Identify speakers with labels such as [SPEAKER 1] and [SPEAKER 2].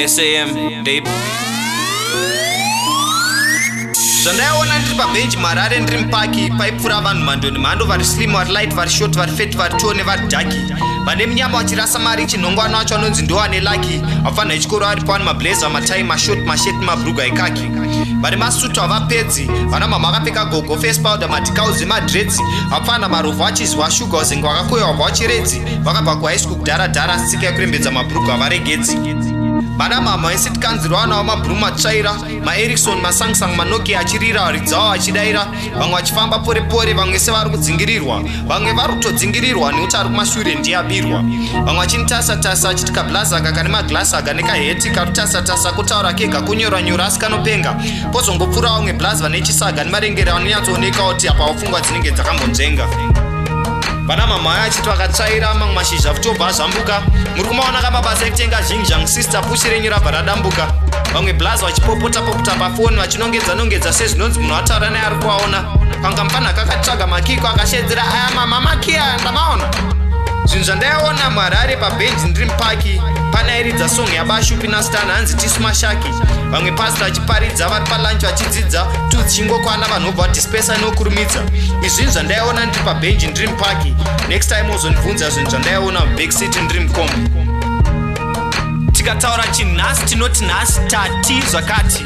[SPEAKER 1] sam dab zvandaiona ndiri pabenji muharare ndiri mupaki paipfuura vanhu mhando nemhando vari slim vari light vari short vari fet vari two nevari daki vane munyama vachirasa mari chinhongwana wacho anonzi ndoane laki afanha echikoro ari pawani mablazer matai mashort mashet mabruga ekaki vane masutu havapedzi vana mama akapfeka gogo face powder matikauzi madredzi vapfana marovha achizwa shuga uzinge wakakoyewa bva wachiredzi vakabva kuhigh school kudhara dhara sika yekurembedza mabhurugu havaregedzi vana mama vese tikanzirwa vana vamabhuru matsvaira maerikson masangsang manokia achirira varidzi avo achidaira vamwe vachifamba pore pore vamwe sevari kudzingirirwa vamwe vari kutodzingirirwa nekuti ari kumashure ndiye abirwa vamwe vachinitasa tasa achiti kablaza aka kane maglasi aka nekaheti karutasa tasa kutaura kega kunyora nyora asi kanopenga pozongopfuura vamwe blazi vane chisaga nemarengere vanonyatsooneka kuti apa wapfungwa dzinenge dzakambonzvenga vana mamhaya achiti vakatsvaira mamwe mashizha kutobva azvambuka muri kumaona kamabasa ekutenga zhinji zhangu sister pushi renyu rabva radambuka vamwe blazi vachipopota popota pafoni tinongedza nongedza sezvinonzi munhu ataura naye ari kuaona panga mufanaka akatsvaga makiko akashedzera aya mama makiya ndamaona zvinhu zvandaiona mwari ari pabhenji ndiri mupaki pane airidza song yabashupi nastan hanzi tisu mashaki vamwe pasi vachiparidza vari palunch vachidzidza tudzichingokwana vanhu vobva vadispesa inokurumidza izvinhu zvandaiona ndiri pabhenji ndiri mupaki next time ozondibvunza zvinhu zvandaiona mubackcity ndiri mukombi tikataura chinhasi tinoti nhasi tati zvakati